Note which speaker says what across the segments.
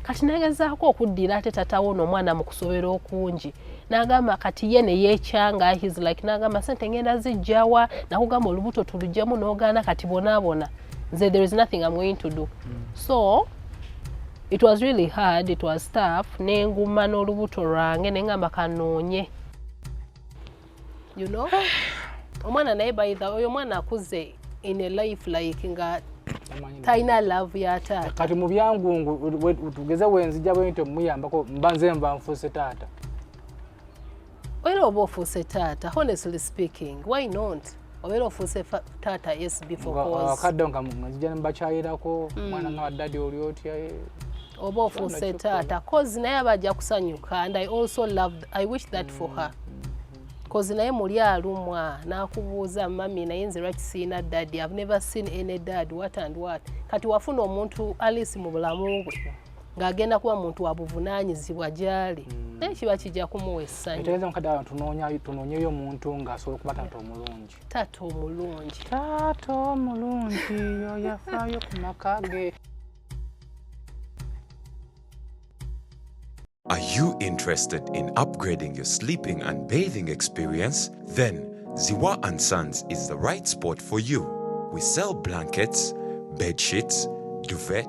Speaker 1: kati nagezaako okuddira ate tatawo ono omwana mu kusobera okungi nagamba kati ye neyekyanga his like nagamba sente ngenda zijjawa nakugamba olubuto tulujjemu nogaana kati bonabona nze there is nothing am going to do mm. so it was really hard it was tough nenguma n'olubuto lwange nengamba kanoonye you know omwana naye baitha oyo omwana akuze in a life like nga talina love ya taata kati mu byangungu
Speaker 2: tugeze wenzija bwente muyambako mba nze nva nfuuse taata
Speaker 1: era oba ofuuse taata honestly speaking why not obeera ofuuse taata yes beforeakadde nga nzija
Speaker 2: nembakyayirako mm. mwana nga wadadi oli otya eh. oba
Speaker 1: ofuuse taata cause naye aba ajja kusanyuka and i also love i wish that for her kozi naye muli alumwa nakubuuza mami naye nze lwaki siina dadi i've never seen any dad what and what kati wafuna omuntu alice mu bulamu bwe ng'agenda kuba muntu wa buvunaanyizibwa gy'ali hmm. naye kiba kijja kumuwa essanyu etegeeza mukadde wano
Speaker 2: tunoonyeyo omuntu ng'asobola okuba taata omulungi taata omulungi
Speaker 1: taata
Speaker 2: omulungi oyafaayo ku maka ge
Speaker 3: Are you interested in upgrading your sleeping and bathing experience? Then Ziwa and Sons is the right spot for you. We sell blankets, bed sheets, duvet,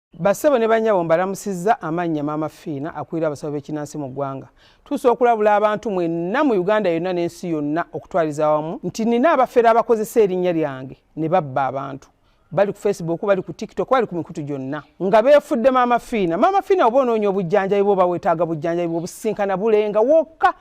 Speaker 4: Bassebo ne bannyabo mbalamusizza amannya Maama Fiina akulira abasawo b'ekinnansi mu ggwanga. Tuusa okulabula abantu mwenna mu Uganda yonna n'ensi yonna okutwaliza awamu nti nina abafere abakozesa erinnya lyange ne babba abantu. Bali ku Facebook, bali ku TikTok, bali ku mikutu gyonna nga beefudde Maama Fiina. Maama Fiina oba onoonya obujjanjabi bw'oba weetaaga bujjanjabi bw'obusisinkana Bulenga wokka.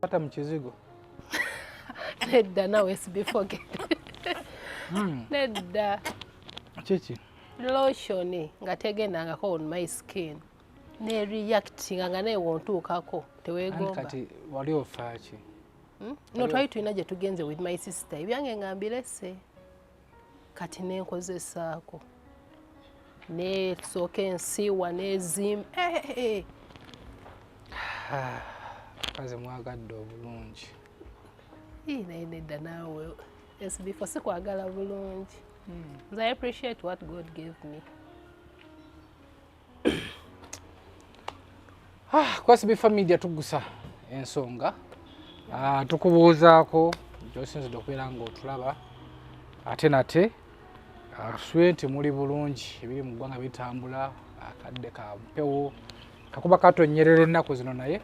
Speaker 2: Pata mchizigo.
Speaker 1: Nedda nawe sibifoge. Hmm. Nedda. Chichi.
Speaker 2: Lotion
Speaker 1: nga tegendangako on my skin. Ne reactinga nga naye wontuukako teweegomba. Kati wali
Speaker 2: ofaaki? Hmm? No
Speaker 1: twali tulina gye tugenze with my sister ebyange nga mbirese. kati nenkozesaako nesooka ensiiwa nezimba eh, eh, eh. ah,
Speaker 2: kaze mwagadde obulungi
Speaker 1: naye nedda naawe esibifo sikwagala bulungi hmm. nze i appreciate what god gave me
Speaker 2: Ah, kwasi bifa media tugusa ensonga ah, tukubuuzaako gyosinzidde okubeera nga otulaba ate nate tusubire ah, nti muli bulungi ebiri mu ggwanga bitambula akadde ka mpewo kakuba katonyerera ennaku zino naye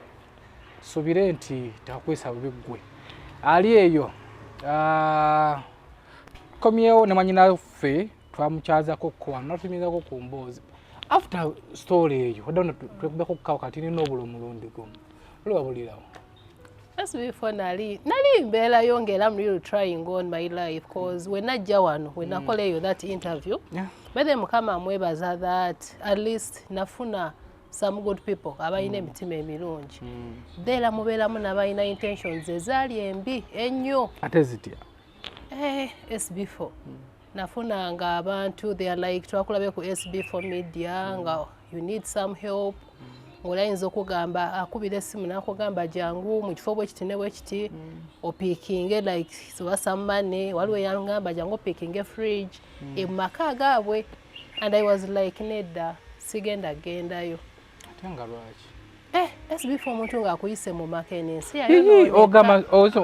Speaker 2: subire nti takwesa bubi ggwe ali eyo komyewo ne mwanyinaffe twamukyazako ko wano natunyigako ku mboozi after story eyo odda no twekubeko kukawo kati nina obula omulundi gumu oli wabulirawo just
Speaker 1: before nali nali mbeera yo ngaera am really trying on my life cause we najja wano we nakola mm. eyo that interview yeah. bethe mukama amwebaza that at least nafuna some good people abalina mm. emitima emirungi mm. dheera mubeeramu nabalina intentions ezaali embi ennyo ate zitya
Speaker 2: eh,
Speaker 1: sb4 mm. nafunanga abantu they are like twakulabe ku sb4 media mm. nga you need some help ng'oli ayinza okugamba akubira essimu nakugamba jangu mu kifo bwekiti ne bwekiti mm. opikinge like oba sammane waliwo yangamba jangu opikinge fridge mm. emumaka gaabwe and i was like nedda sigenda gendayo ate nga
Speaker 2: lwaki eh, sbfa
Speaker 1: omuntu ngaakuyise mu maka eno ensi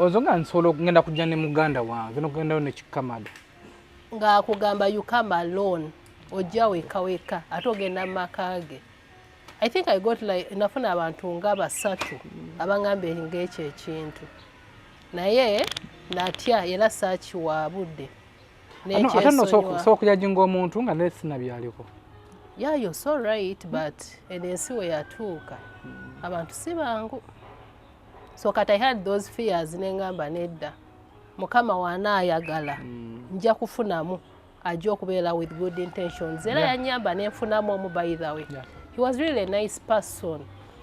Speaker 2: ozo nga nsobola okugenda kujja ne muganda wange nokugendayo nekikamada ngaakugamba
Speaker 1: ukama loan ojja weka weka ate ogenda mu maka ge i think i got like nafuna abantu nga basatu abangambye ngaekyo ekintu naye natya era saakiwa budde ate
Speaker 2: nosookujaginga omuntu nga naye sinabyaliko yeah you're so
Speaker 1: right but eno ensi we yatuuka abantu si bangu so kat i had those fears nengamba nedda mukama wanaayagala mm. nja kufunamu ajja okubeera with good intentions era yanyamba nenfunamu omu by the way he was really a nice person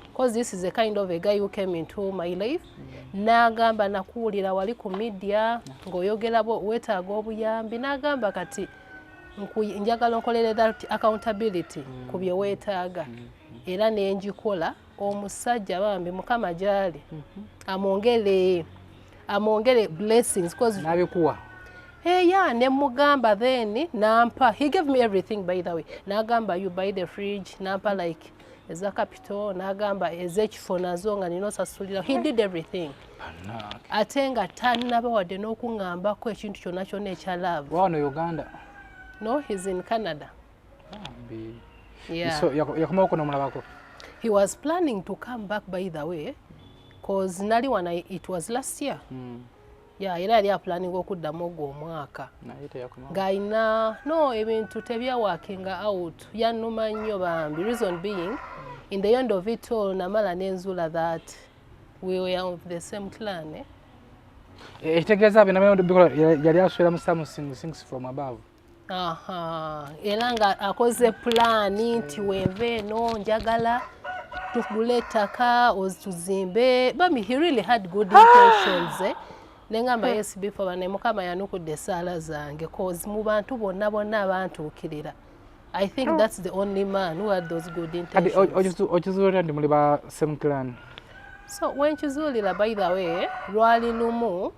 Speaker 1: because this is a kind of a guy who came into my life n'agamba nakuwulira wali ku midiya ng'oyogera weetaaga obuyambi n'agamba kati njagala onkolere that accountability mm. ku bye weetaaga mm, mm. era nenjikola omusajja bambi mukama gyali mm-hmm. amwongere amwongere blessings nabikuwa
Speaker 2: eya
Speaker 1: ne mugamba then nampa he gave me everything by the way nagamba you buy the fridge nampa like eza capital n'agamba ez'ekifo nazo nga nina osasulira he did everything ate nga tanaba wadde n'okuŋambako ekintu kyonna kyonna ekya love wano uganda
Speaker 2: no he's
Speaker 1: in canada
Speaker 2: yakomawoko nomulabako he was
Speaker 1: planning to come back by the way cause nali wana it was last year mm. ya era yali apulaninga okuddamu ogwo omwaka ng'alina no ebintu tebyawakinga out yanuma nnyo bambi reason being in the end of it all namala nenzula that we were of the same clan eh?
Speaker 2: ekitegeeza eh, byo nabyo bikola yali aswera musamu sings from above
Speaker 1: era nga akoze pulaani nti hmm. wenva eno njagala tugule ettaka tuzimbe bami he really had good ah! intentions eh? nengamba hmm. yes before bane mukama yanukudde esaala zange cause mu bantu bonna bonna abantuukirira I think oh. that's the only man who had those good intentions. Okizuulira ndi muli ba
Speaker 2: same clan. So
Speaker 1: wenkizuulira by the way lwali lumu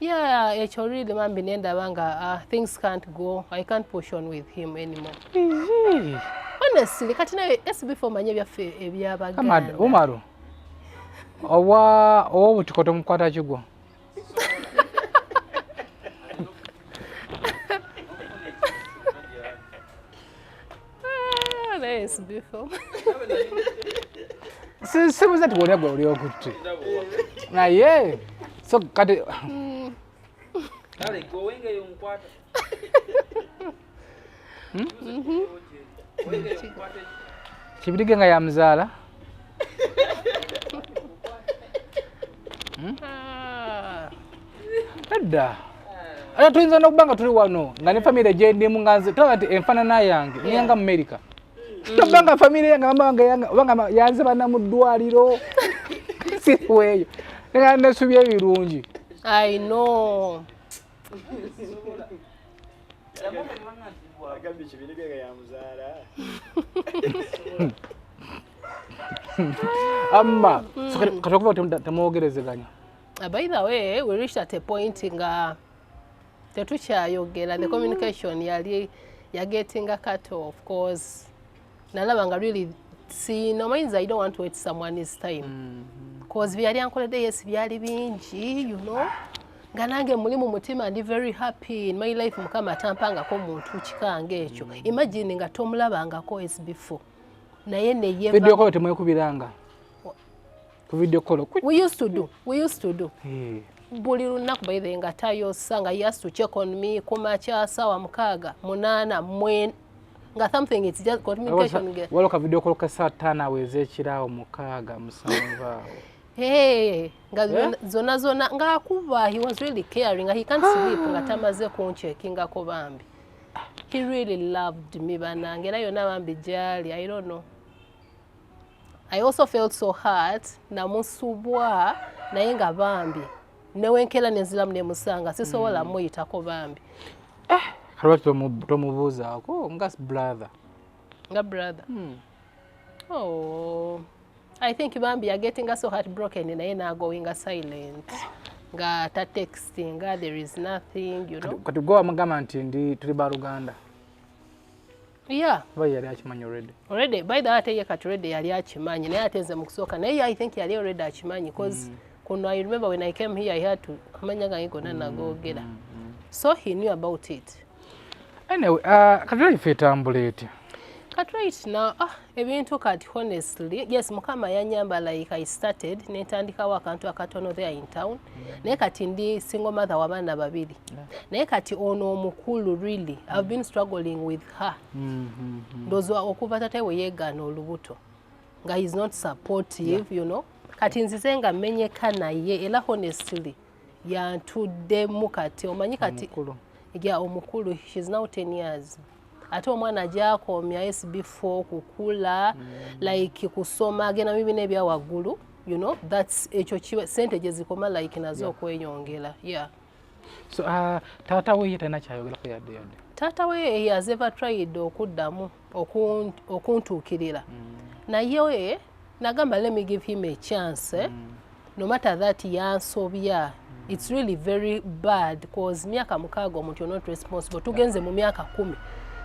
Speaker 2: Yeah, ekyo
Speaker 1: really mambi nendaba nga uh, things can't go. I can't push on with him anymore. Ehe. Honestly, kati nawe SB for manye byaffe ebyabaganda. Amad Umaru.
Speaker 2: Owa owa butukoto mukwata kigwo.
Speaker 1: Ah, naye sibifo
Speaker 2: sibuza ti wolya gwe oli okutte naye so kati kibirige nga yamuzaala Hmm? Ah. edda ate tuyinza nokuba nga tuli wano nga ne famire gyendimu nga nze tolaba nti enfanana yange niyanga mu amerika mm. toba nga famire yange banga yanze bana mu ddwaliro siriweeyo nesubi ebirungi i know
Speaker 1: agambye kibirige nga yamuzaala
Speaker 2: amma kati okuva temwogerezeganya uh, by the
Speaker 1: way we reached at a point nga tetukyayogera the communication yali yagetinga cut off cause nalaba nga really sino means i don't want to wait someone is time mm -hmm. cause byali ankoledde yes byali bingi you know nga nange muli mu mutima ndi very happy in my life mukama atampangako muntu kikange ekyo mm. imagine nga tomulabangako as before naye neyeba video kwa temwekubiranga
Speaker 2: ku video call we used to do we
Speaker 1: used to do hey. Eh. buli lunaku baithe nga tayosa nga yes to check on me kumakya sawa mukaaga munana mwen nga something it's just communication ge
Speaker 2: walo ka video call ka
Speaker 1: saa
Speaker 2: tano aweze ekiraawo mukaaga
Speaker 1: musanvu
Speaker 2: awo hey
Speaker 1: nga yeah? zona zona nga akuba he was really caring he can't sleep nga tamaze kunchekinga ko bambi he really loved me banange era yona bambi jali i don't know I also felt so hurt namusubwa naye nga bambi newenkera nenzilamu nemusanga sisobola mm. muyitako bambi eh, kalwaki
Speaker 2: tomubuuzaako nga brother nga
Speaker 1: brother mm. oh. I think Bambi are getting us so heartbroken in naye now going silent nga ta texting there is nothing you know kati gwe wamugamba nti
Speaker 2: ndi tuli ba Luganda
Speaker 1: yeah oba yali
Speaker 2: akimanyi already already by the way ate ye
Speaker 1: kati already yali akimanyi naye ate nze mu kusooka naye i think yali already akimanyi cause mm. kuno i remember when i came here i had to amanya gange gonna mm. nagoogera mm, mm. so he knew about it anyway
Speaker 2: uh, katulai fe etambula etya katulai
Speaker 1: na ah ebintu kati honestly yes mukama yanyamba like i started netandikawo akantu akatono there in town mm. naye kati ndi single mother wabaana babiri naye kati ono omukulu really i've been struggling with her mm, mm, ndozwa okuva tata we yegaana olubuto nga he's not supportive you know kati nzize nga menyeka naye era honestly yantuddemu kati omanyi kati ya omukulu shes now 10 years ate omwana ajakomya sb4 kukula mm. like kusoma agenda mu bibiina ebya waggulu you know thats ekyo kiba sente gye zikoma like nazo okweyongera yeah so uh,
Speaker 2: taata weye talina kyayogerako yadde yadde taata weye he has
Speaker 1: ever tried okuddamu okuntuukirira mm. naye nagamba let me give him a chance eh? mm. no matter that yansobya it's really very bad cause myaka mukaaga omuntu you're not responsible tugenze mu myaka kumi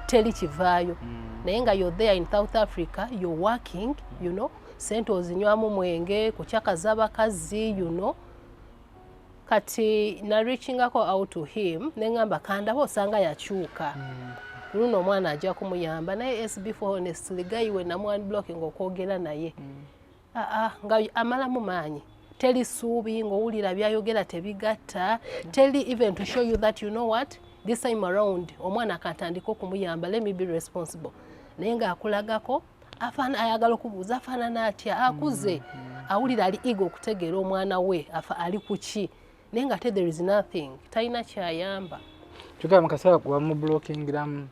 Speaker 1: teli kivaayo mm. naye nga you're there in south africa you're working you know sente ozinywamu mwenge kucakaza bakazi you know kati na reachingako out to him nengamba kandaba osanga yakyuka mm. luno omwana ajja kumuyamba naye sb for honestly guy we namwan blocking okwogera naye mm. aa ah, ah, nga amalamu maanyi teli suubi ng'owulira byayogera tebigatta mm. teli even to show you that you know what this time around omwana akatandika okumuyamba let me be responsible naye ng'akulagako afana ayagala okubuuza afaanana atya akuze mm, mm. awulira ali ego okutegeera omwana we afa ali kuki naye nga te there is nothing talina kyayamba kyogera mukaseera
Speaker 2: wamublokingiramu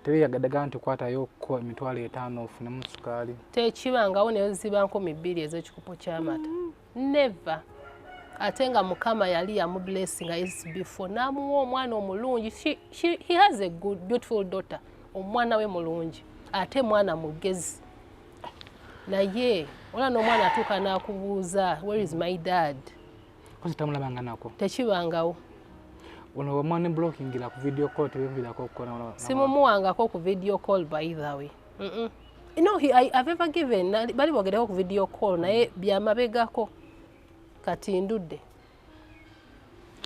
Speaker 2: tebeyagadaga nti kwatayo ko emitwalo etaano ofunemu sukaali tekibangawo
Speaker 1: neziba nkumi bbiri ezekikopo kyamata mm. never ate nga mukama yali yamublessinga isbefore n'amuwa omwana omulungi he has a good beautiful daughter omwana we mulungi ate mwana mugezi naye olaba n'omwana atuuka n'akubuuza where is my dad
Speaker 2: tamulabanganako tekibangawo
Speaker 1: ono
Speaker 2: wamwana blockingira ku video call tebiviraako okukola simumuwangako ku
Speaker 1: video call by the way mm -mm. no he, I, I've ever given bali bogereho ku video call naye byamabegako kati ndudde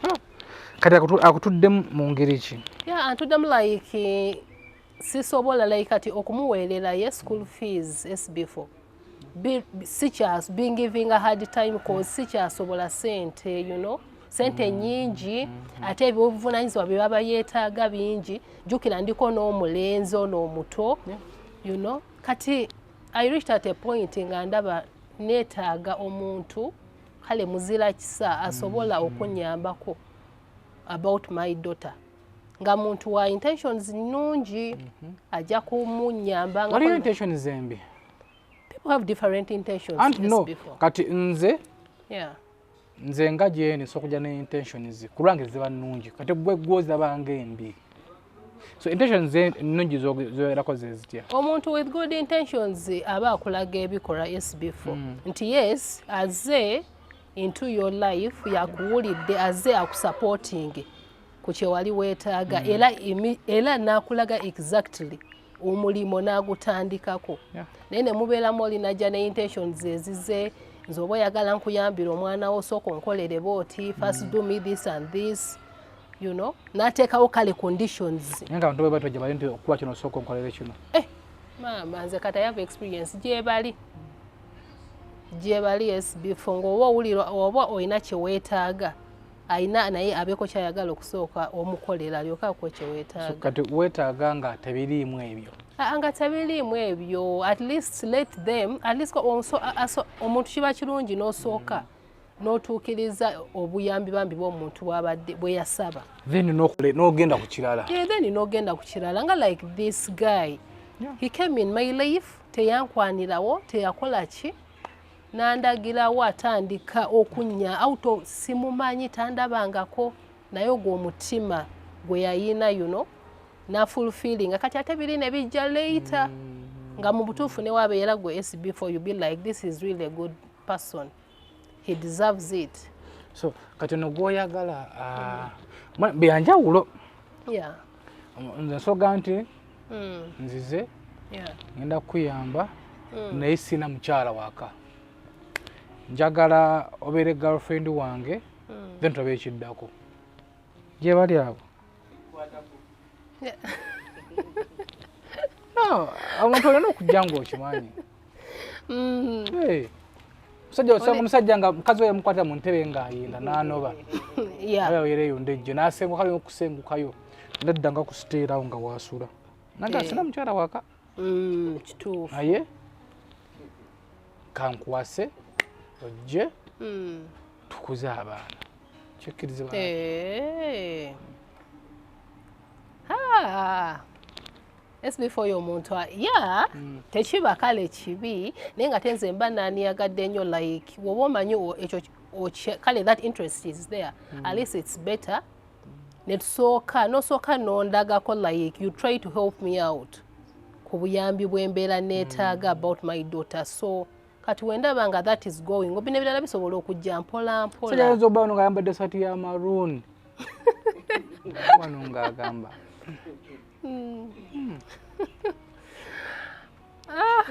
Speaker 1: oh.
Speaker 2: kati akutudde mu ngeri ki ya antuddemu
Speaker 1: like sisobola like kati okumuweerera ye school fees sb4 sikyas being giving a hard time cause sikyasobola sente you know sente mm. nyingi mm. mm. ate ebyobuvunanyizibwa bye baba yeetaaga bingi jjukira ndiko n'omulenzi ono omuto you know kati i reached at a point nga ndaba neetaaga omuntu kale muzira kisa asobola okunyambako about my daughter nga muntu wa intentions nungi mhm. ajja kumunyamba nga waliyo intentions embi
Speaker 2: people have
Speaker 1: different intentions and no kati
Speaker 2: nze yeah
Speaker 1: nze nga gyene
Speaker 2: sokuja ne intentions kulwange ziba nungi kati gwe gwoza bange embi so intentions nungi zoyerako zezitya omuntu with good
Speaker 1: intentions aba akulaga ebikola yes before mm. nti yes aze into your life yakuwulidde aze akusupporting ku kyewali weetaaga mm. era era nakulaga exactly omulimu n'agutandikako naye ne mubeeramu oli najja ne intentions ezize nze oba oyagala nkuyambira omwana wo sooka onkolere booti first mm. do me this and this you know n'ateekawo kale conditions nga abantu bwe batwejja bali
Speaker 2: nti okuba kino osooka onkolere kino eh, maama
Speaker 1: nze kata yava experience gyebali gyebali esbifo ngaoba owulira oba olina kyeweetaaga ayina naye abeeko kyayagala okusooka
Speaker 2: omukolera
Speaker 1: alyoke akuwe kyeweetaaga kati weetaaga
Speaker 2: nga
Speaker 1: tebiriimu ebyo ah, nga tebiriimu ebyo at least let them at least omuntu kiba kirungi n'osooka n'otuukiriza obuyambi bambi bw'omuntu bwabadde bwe yasaba then
Speaker 2: n'ogenda ku kirala yeah, then n'ogenda ku
Speaker 1: kirala nga like this guy yeah. he came in my life teyankwanirawo teyakola ki nandagirawo atandika okunnya auto simumanyi tandabangako naye ogwo omutima gwe yayina yuno nafulfilinga kati ate biri ne bijja leita mm. nga mu butuufu newabeera gwe sb for you be like this is really a good person he deserves it so kati
Speaker 2: ono gwoyagala ah, byanjawulo yeah.
Speaker 1: nze
Speaker 2: nsoga nti hmm. nzize ngenda kukuyamba hmm. naye sina mukyala waka njagala obeere girlfriend wange hmm. then tulabe ekiddako gye bali abo omuntu olina okujja ngaokimanyi Mm. Hey. musajja osanga omusajja nga mukazi we yamukwata mu ntebe ng'ayenda n'anoba aba oyera eyo ndejje n'asengukayo n'okusengukayo nadda nga kusiteerawo nga waasula naga eh. sina mukyala waka mm, kituufu
Speaker 1: naye
Speaker 2: kankwase ojje mm. tukuze abaana kyekkirize ba eh.
Speaker 1: sbf oyo omuntu ya mm. tekiba kale kibi naye nga tenze mba naniyagadde nnyo like woba omanyi ekyo kale that interest is there mm. at least it's better netusooka nosooka nondagako like you try to help me out ku buyambi bwembeera neetaaga mm. about my daughter so kati wendaba nga that is going obina ebirala bisobola okujja mpola mpolaoyinza oba ono nga ayambadde
Speaker 2: sati ya maroon wano nga agamba
Speaker 1: Mm. ah.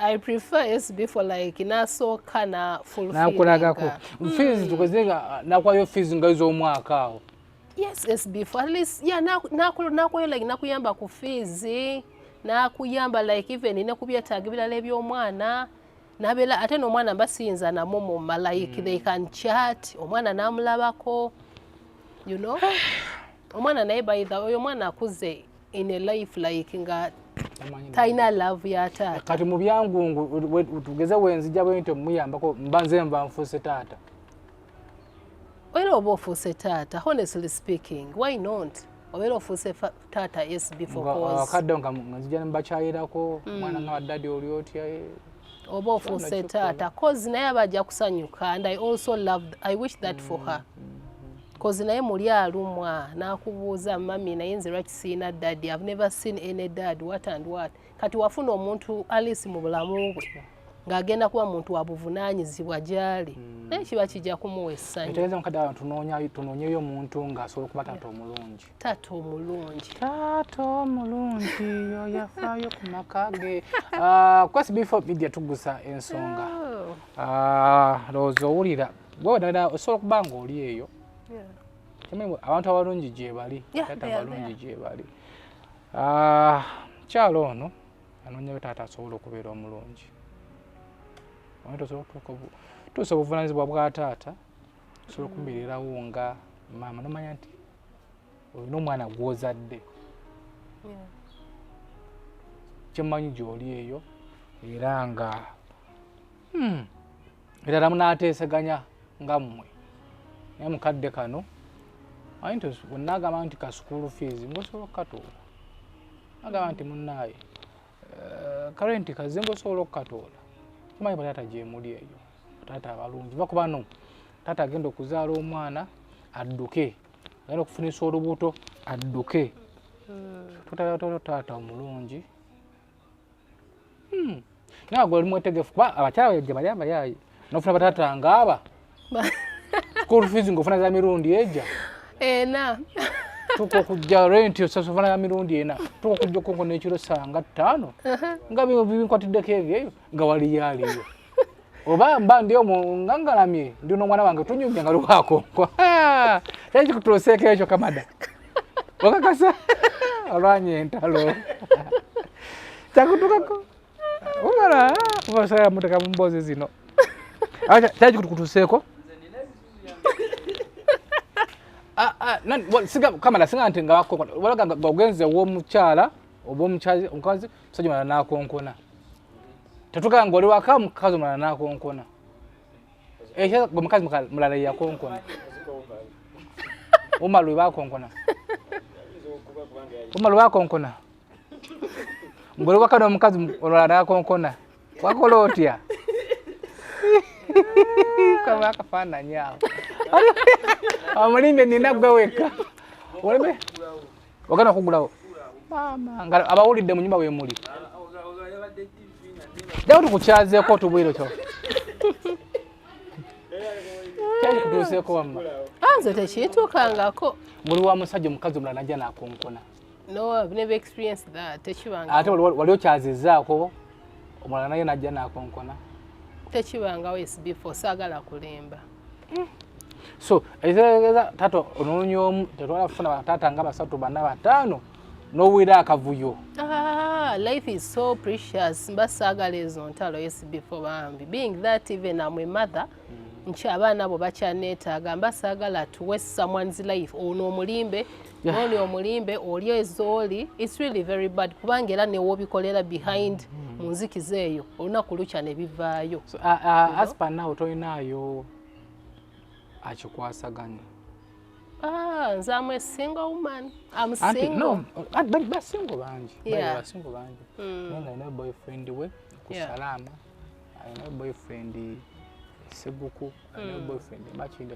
Speaker 1: I prefer SB for like nasooka na fulfill nakulagako
Speaker 2: fees mm. tukoze nga nakwayo fees nga izo omwaka awo yes SB
Speaker 1: for at least yeah nakwayo na, na, like nakuyamba ku fees nakuyamba like even ne kubyetaaga ebirala eby'omwana nabela ate nomwana mba siyinza namwo mu malaik mm. they can chat omwana namulabako you know omwana naye baitha oyo omwana akuze in a life like nga talina love ya taata kati mu byangungu
Speaker 2: tugeze wenzija bwentyo muyambako mba nze nva nfuuse taata
Speaker 1: obeera oba ofuuse taata honestly speaking why not obeera ofuuse taata yes beforeakadde nga nzija
Speaker 2: nembakyayirako hmm. mwana nga wadadi oli otya eh? oba
Speaker 1: ofuuse taata cause naye aba ajja kusanyuka and i also love i wish that for her kozi hmm. naye muli alumwa nakubuuza mami naye nze lwaki siina dadi ive never seen any dad what and what kati wafuna omuntu alice mu bulamu bwe ng'agenda kuba muntu wa buvunaanyizibwa gy'ali hmm. naye kiba kijja kumuwa essanyu etegeeza mukadde abantu
Speaker 2: tunoonyeyo omuntu ng'asobola okuba taata omulungi taata omulungi
Speaker 1: taata
Speaker 2: omulungi yoyafaayo ku maka ge ah, kwesi before media tugusa ensonga oh. ah, lowooza owulira gwe wedala osobola okuba ng'oli eyo abantu abalungi gyebali taata abalungi gyebali ah, kyalo ono anoonyayo taata asobola okubeera omulungi tuusa obuvunanyizibwa bwa taata osobola okubeererawo nga maama nomanya nti olina omwana gwozadde kyemanyi gyoli eyo era nga hmm. erala munateeseganya nga mmwe naye mukadde kano ayinti wenagamba nti ka school fees ngosobola okukatoola agamba nti munnaaye eh, karenti kaze ngosobola okukatoola kimanyi bataata gyemuli eyo bataata abalungi va kubano taata agenda okuzaala omwana adduke agenda okufunisa olubuto adduke hmm. totataata omulungi Hmm. nawe gwe oli mwetegefu kuba abakyala yajja bali abayaayi nofuna batata ngaaba school fees ngaofuna za mirundi eja ena tuka okujja renti osasofana ya mirundi ena tuka okujja okonko nekiro sanga ttaano nga binkwatiddeko ebyo eyo nga waliyo aliyo oba mba ndi omu nga ngalamye ndi n'omwana wange tunyumya nga lukwakonkwa kyaki kutuloseeko ekyo kamada okakasa olwanya entalo kyakutukako omala obasaa muteka mu mboozi zino kyaki kutuseeko ah, ah, kamala singa nti ngawakonkona walaga nga ogenze owomukyala oba omukazi musajja mala nakonkona tetugamba ngoli waka mukazi omulala nakonkona ekyo gwe mukazi mulala yakonkona uma lwe bakonkona uma lwe bakonkona ngoli waka nomukazi olala nakonkona wakola otya kaba akafaananyi awo omulimbe nina gwe wekka Wagana kugulawo. Mama, ngalo abawulidde mu nyumba we muli. Dawo tukukyazeko tubwiro kyo. Kyali kutuuseko wamma. Anze ah,
Speaker 1: tekitukangako. Muli wa musajja
Speaker 2: omukazi omulala najja nakonkona. No, I've never
Speaker 1: experienced that. Tekibanga. Ate wali
Speaker 2: okyazizaako omulala naye najja nakonkona. Tekibangawo
Speaker 1: is before saagala kulimba. hmm.
Speaker 2: so ekitegeeza tata onoonya omu tetwala kufuna taata nga basatu bana bataano nowera akavuyo ah, life
Speaker 1: is so precious mba saagala ezo ntalo esibifo bambi being that even am a mother hmm. nti abaana abo bakyaneetaaga mba saagala tuwe someone's life ono omulimbe noli omulimbe oli ezooli its really very bad kubanga era newobikolera behind mm-hmm. mu nzikiza eyo olunaku lukya ne bivaayo aspanawo
Speaker 2: tolinaayo akikwasaganya ah,
Speaker 1: nze am a single woman am single basingo bangi
Speaker 2: basingo bangi mm. naye alina boyfriend we ku salaama alina boyfriend seguku alina mm. boyfriend makinde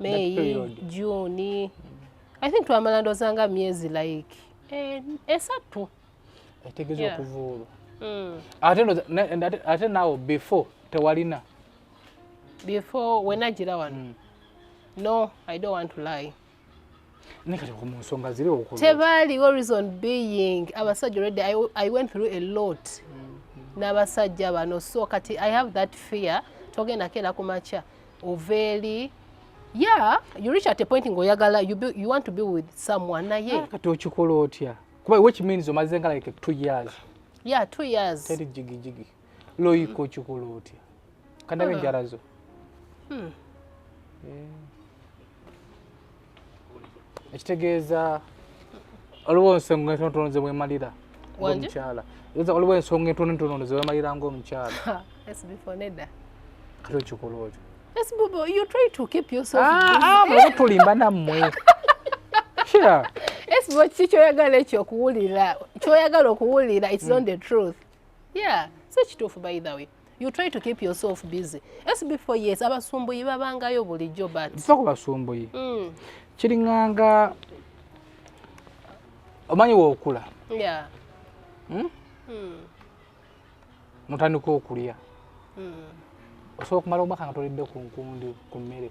Speaker 1: meyi juni i think twamala ndoza nga myezi like eh, esatu etegeza
Speaker 2: yeah. okuvuulwa mm. ate nawo before tewalina
Speaker 1: before wenagira wano mm. no i don't want to lie
Speaker 2: tebaaliwo reason
Speaker 1: being abasajja already I, i went through a lot mm-hmm. n'abasajja bano so kati i have that fear togenda keera ku makya oveeri yeah you reach at a point ng'oyagala you, be, you want to be with someone naye ah, kati okikola otya
Speaker 2: kuba which means omaze nga like two years yeah two years
Speaker 1: teri jigijigi
Speaker 2: loyika okikola otya kadabe ah. enjala zo hmm. eh. ekitegeeza waliwo ensonga entonotono zewemalira omukyala waliwo ensonga entonotono zewemalira ngaomukyala
Speaker 1: kati
Speaker 2: okikola
Speaker 1: otyo tulimba nammwe
Speaker 2: kiki
Speaker 1: kyoyagala ekyo okuwulira kyoyagala okuwulira its on the truth yeah si kituufu by the way you try to keep yourself busy sbefore yes abasumbuyi babangayo bulijjo but tufa ku basumbuyi
Speaker 2: mm. kiringanga omanyi wookula yeah. hmm? mm. notandika okulya mm. osobola okumala omwaka nga tolidde ku nkundi ku mmere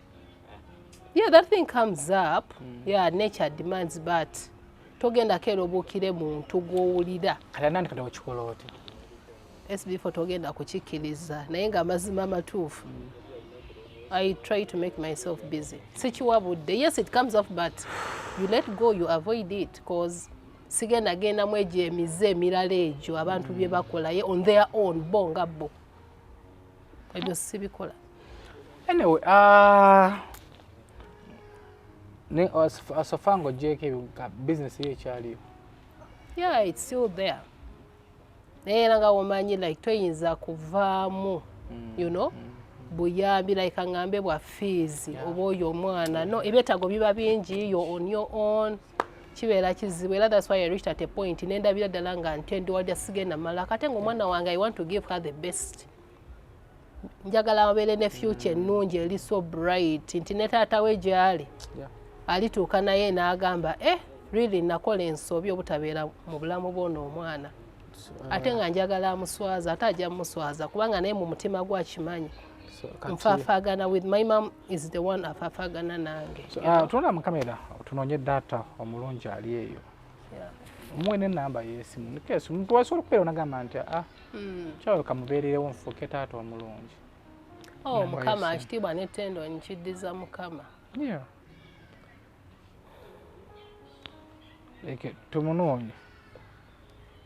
Speaker 1: yeah that thing comes up mm. yeah nature demands but togenda kero bukire muntu gwowulira kati nani kati okikola
Speaker 2: oti sbfo
Speaker 1: togenda kukikkiriza naye nga amazima amatuufu mm. i try to make myself busy sikiwabudde yes it comes up but you let go you avoid it cause sigenda genda mu egyo emize emirala egyo abantu mm. bye bakolaye on their own bo nga bo ebyo sibikola anyway
Speaker 2: uh, ne asofa nga ogyeko ebyo bizinesi yo ekyaliyo yeah
Speaker 1: it's still there naye era nga womanyi like toyinza kuvaamu mm. you know mm. buyambi like angambe bwa fees oba oyo omwana no ebyetaago biba bingi yo on your own kibeera kizibu era that's why I reached at a point nendabira ddala nga ntendo walya sigenda mala kate nga omwana wange I want to give her the best njagala abeere ne future ennungi eri so bright nti ne taata we gyali alituuka naye n'agamba eh really nakola ensobi obutabeera mu bulamu bwona omwana ate nga njagala amuswaza ate ajja muswaza kubanga naye mu mutima gwe akimanyi nfafagana with my mom is the one afafagana nange ah, tunula mu kamera
Speaker 2: tunonye data omulungi ali eyo muwe nenamba yesimu nikesi omuntu wasobola okubeera onagamba nti a ah, hmm. kyawe kamubeererewo nfuuke taata omulungi oh,
Speaker 1: mukama ekitiibwa netendo nkiddiza mukama
Speaker 2: tumunoonye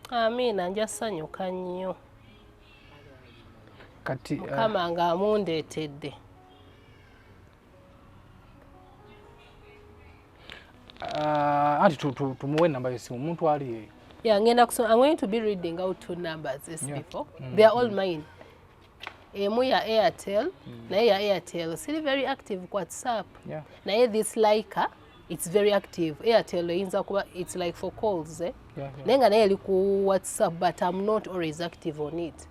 Speaker 1: amiina nja sanyuka nnyo
Speaker 2: kati eh, mukama nga
Speaker 1: amundeetedde
Speaker 2: ah, anti tumuwe enamba yesimu omuntu ali eyo yeah ngenda kusoma i'm going
Speaker 1: to be reading out two numbers as yeah. before mm -hmm. they are all mm. mine emu ya airtel mm. naye ya airtel siri very active ku whatsapp yeah. naye this liker it's very active airtel eyinza kuba it's like for calls eh? yeah, yeah. naye nga naye eri ku whatsapp but i'm not always active on it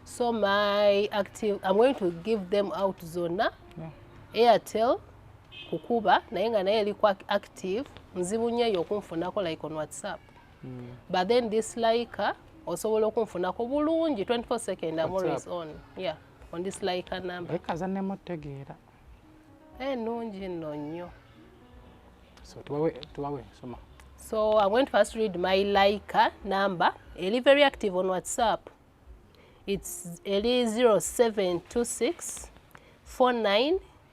Speaker 1: so my active i'm going to give them out zonna yeah. airtel kukuba naye nga naye eri ku active nzibu nyo eyo okunfunako like on whatsapp mm. but then this like osobola okunfunako bulungi 24 second am always on yeah on this like number ekaza ne mutegeera
Speaker 2: eh
Speaker 1: nungi no nyo
Speaker 2: so tuwawe tuwawe soma so i'm going to
Speaker 1: first read my like number eli very active on whatsapp it's eli 0726 49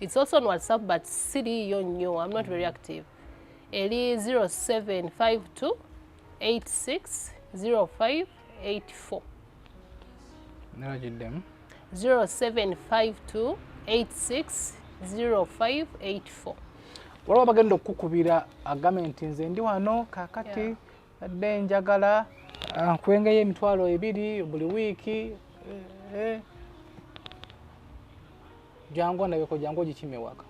Speaker 1: It's also on WhatsApp but siriiyo nnyo. I'm not very active. Eri 0752 860584.
Speaker 2: Nara jiddemu. 0752 860584. Waliwo abagenda okukubira agame nti nze ndi wano kakati adde njagala ah, nkwengeyo emitwalo ebiri buli wiiki eh, eh. Jangu ndabeko jangu ogikime waka.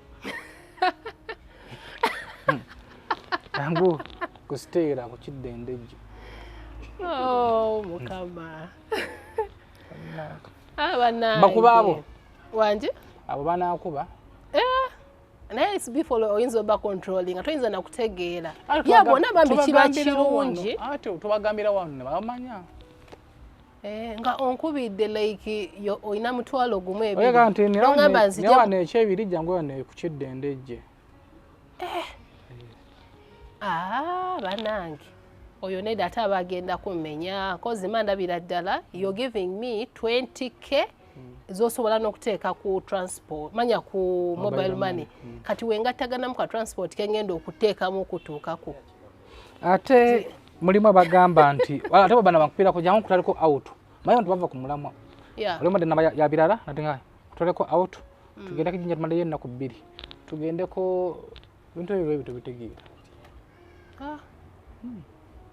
Speaker 2: Jangu kusiteera ku kiddendejje. Oh,
Speaker 1: mukama. Abana. Ah, Bakuba abo.
Speaker 2: Wanje?
Speaker 1: Abo banakuba.
Speaker 2: Eh.
Speaker 1: naye it's before oyinza oba controlling nga toyinza nakutegeera ya bona bambi kiba kirungi tubagambira
Speaker 2: wano nebamanya Eh,
Speaker 1: nga onkubidde like olina mutwalo gumu ebirigamba
Speaker 2: nziwano ekyebiri jangu wano kukiddende ejje eh.
Speaker 1: ah, banange oyo neda ate aba agenda kumenya kozi mandabira ddala yo giving me 20k zosobola nokuteeka ku transport manya ku mobile money mm. kati wengattaganamu ka transport kengenda okuteekamu okutuukaku ate
Speaker 2: mulimu abagamba nti ate babana bankupira kuja nko kutaliko out mayo nti bava ku mulamwa yeah. olimo de nabaya ya birara nati nga kutaleko out mm. tugenda kijinja tumale yenna ku biri tugende ko bintu ebyo ebyo tubitegeera ah hmm.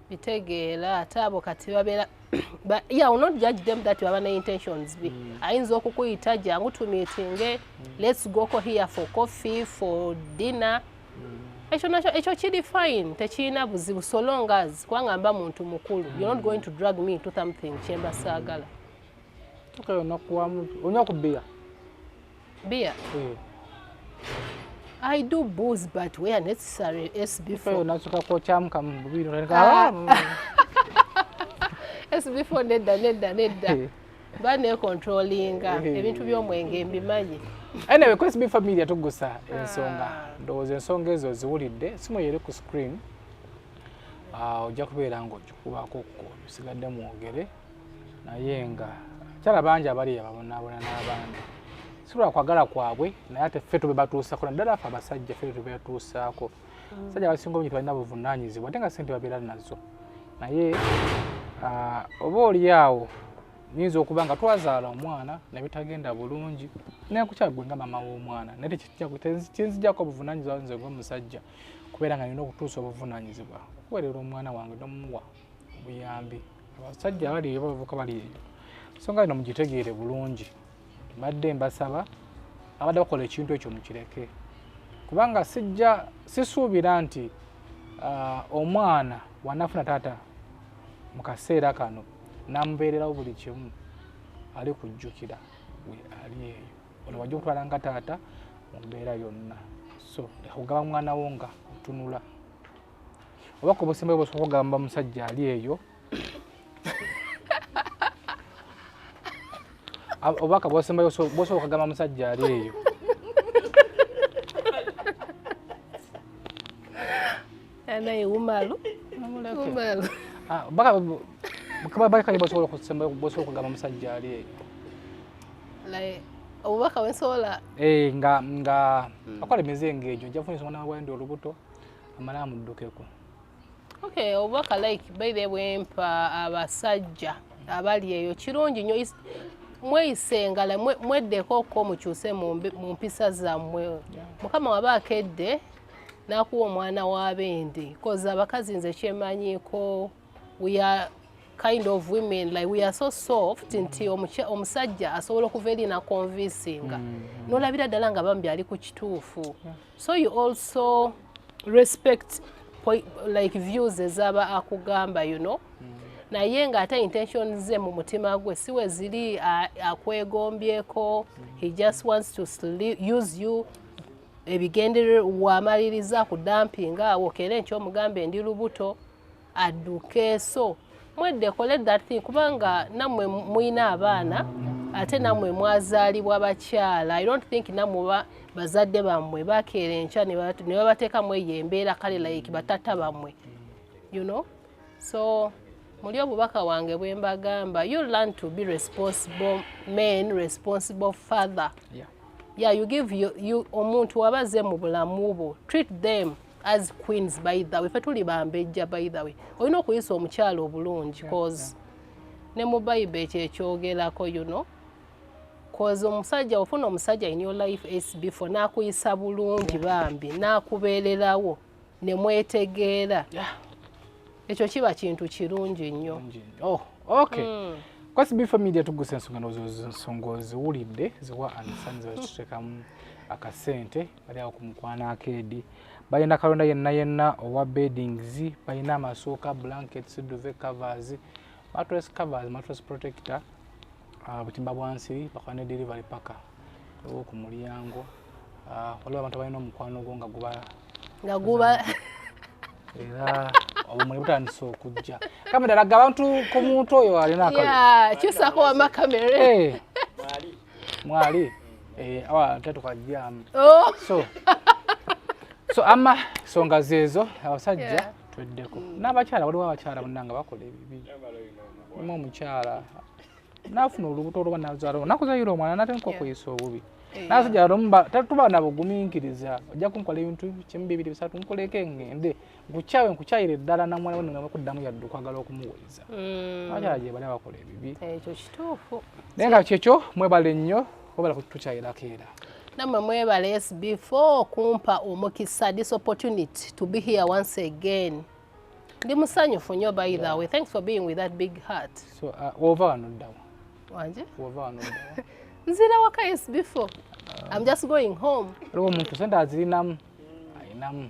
Speaker 1: bitegeera ate abo kati babeera but yeah will not judge them that baba ne intentions bi mm. ayinza okukuyita jangu tumitinge mm. let's go ko here for coffee for dinner ekyo nakyo ekyo kiri fine tekirina buzibu so long as kubanga mba muntu mukulu you're not going to drag me into something kyemba saagala okay onakuwamu
Speaker 2: onywa ku bia
Speaker 1: bia eh. I do booze but where necessary as before. Unasuka kwa chamu
Speaker 2: kama mbubiri. Ah. As
Speaker 1: before neda neda neda. Eh. kuba nekontrolinga eh. ebintu by'omwenge mbimanyi anyway kwesi bi
Speaker 2: familia tugusa ensonga ah. ndowooza ensonga ezo ziwulidde simu yeri ku screen ah, ojja kubeera nga okikubaako ko bisigadde mwogere naye nga kyala bangi abali yababonaabona n'abandi si lwakwagala kwabwe naye ate ffe tube batuusako naddala fe abasajja ffe tube batuusaako mm. sajja abasinga obungi tebalina buvunaanyizibwa ate nga sente babeera nazo naye ah, oba oli awo nyinza okuba nga twazaala omwana nebitagenda bulungi nekukyagwe nga mama w'omwana naye kyenzijako obuvunanyizibwa nze ngomusajja kubeera nga nina okutuusa obuvunanyizibwa kuwerera omwana wange nomuwa obuyambi abasajja bali bavuka bali songa lino mugitegeere bulungi mbadde mbasaba abadde bakola ekintu ekyo mukireke kubanga sijja sisuubira nti uh, omwana wanafuna taata mu kaseera kano namubeererawo buli kimu ali kujjukira we ali eyo olwo wajja okutwala nga taata mu mbeera yonna so okugaba mwana wo nga otunula oba ku busimba bwosobola okugamba musajja ali eyo obubaka bwosembayo bwosobola okagamba musajja ali eyo
Speaker 1: anaye wumalu wumalu ah,
Speaker 2: bakanye bwosobola okusembayo bwosobola okugamba musajja ali eyo
Speaker 1: obubaka bwensobola eh, nga nga
Speaker 2: hmm. akola emize ngaegyo njafunisa omwana wawandi olubuto amala amuddukeko okay
Speaker 1: obubaka like by the way mpa abasajja abali eyo kirungi nyo mweyisengala mweddeko okko mukyuse mu mpisa zammwe mukama waba akedde nakuwa omwana wabende bcause abakazi nze kyemanyiko we are kind of women like we are so soft nti omusajja asobola okuva eri nakonvinsinga mm-hmm. nolabira ddala nga bambi ali ku kituufu yeah. so you also respect like views ezaba akugamba you know mm. naye nga ate intention ze mu mutima gwe siwe ziri akwegombyeko he just wants to use you ebigendererwa wamaliriza ku dampinga awo kera enkyomugambe ndi lubuto adduke so mwedde kole that thing kubanga namwe muyina abaana ate namwe mwazaalibwa bakyala i don't think namwe bazadde bammwe bakeera enkya ne babateekamu eyo embeera kale like batata bammwe you know so muli obubaka wange bwe mbagamba you learn to be responsible men responsible father yeah. Yeah, you give you, you omuntu wabaze mu bulamu bwo treat them as queens by the way fe tuli bambejja by the way olina okuyisa omukyalo obulungi cause ne mu bayiba ekyo ekyogerako you know cause omusajja ofuna omusajja in your life is before nakuyisa bulungi bambi nakubeererawo ne mwetegeera ekyo kiba kintu kirungi nnyo oh, okay
Speaker 2: mm. kwasi bifa media tugusa ensonga nozo nsonga oziwulidde ziwa anisani zazitutekamu akasente bali awo ku mukwano akeedi balina kalonda yenna yenna owa beddings balina amasuuka blankets duve covers matres covers matres protector ah, butimba bwansiri bakola ne delivery paka owo ku mulyango ah, waliwo abantu balina omukwano gwo nga guba nga guba era obumuli butandise okujja kamera laga abantu ku muntu oyo alina akakyusako
Speaker 1: wama kamera eh.
Speaker 2: mwali eh, awa tatuka jamu oh. so so ama songa zezo abasajja yeah. tweddeko mm. n'abakyala waliwo abakyala bannanga bakola ebibi mu omukyala nafuna olubuto olwoba nazala nakuzayira omwana nate nkokuyisa obubi nasajja tuba nabuguminkiriza ojja kunkola ebintu kimu bibiri bisatu nkuleke ngende nkukyawe nkukyayire ddala namwana we nengamba kuddamu yadde okwagala okumuweza mm. abakyala gyebali abakola ebibi ekyo kituufu
Speaker 1: naye nga kyekyo
Speaker 2: mwebale nnyo obala kutukyayirako era namwe mwebale
Speaker 1: s before okumpa omukisa this opportunity to be here once again ndi musanyufu nnyo by the way thanks for being with that big heart so uh, wova wano
Speaker 2: ddawo wanje wova
Speaker 1: wano
Speaker 2: ddawo nzira waka
Speaker 1: s before uh, i'm just going home aliwo omuntu sente
Speaker 2: azirinamu ayinamu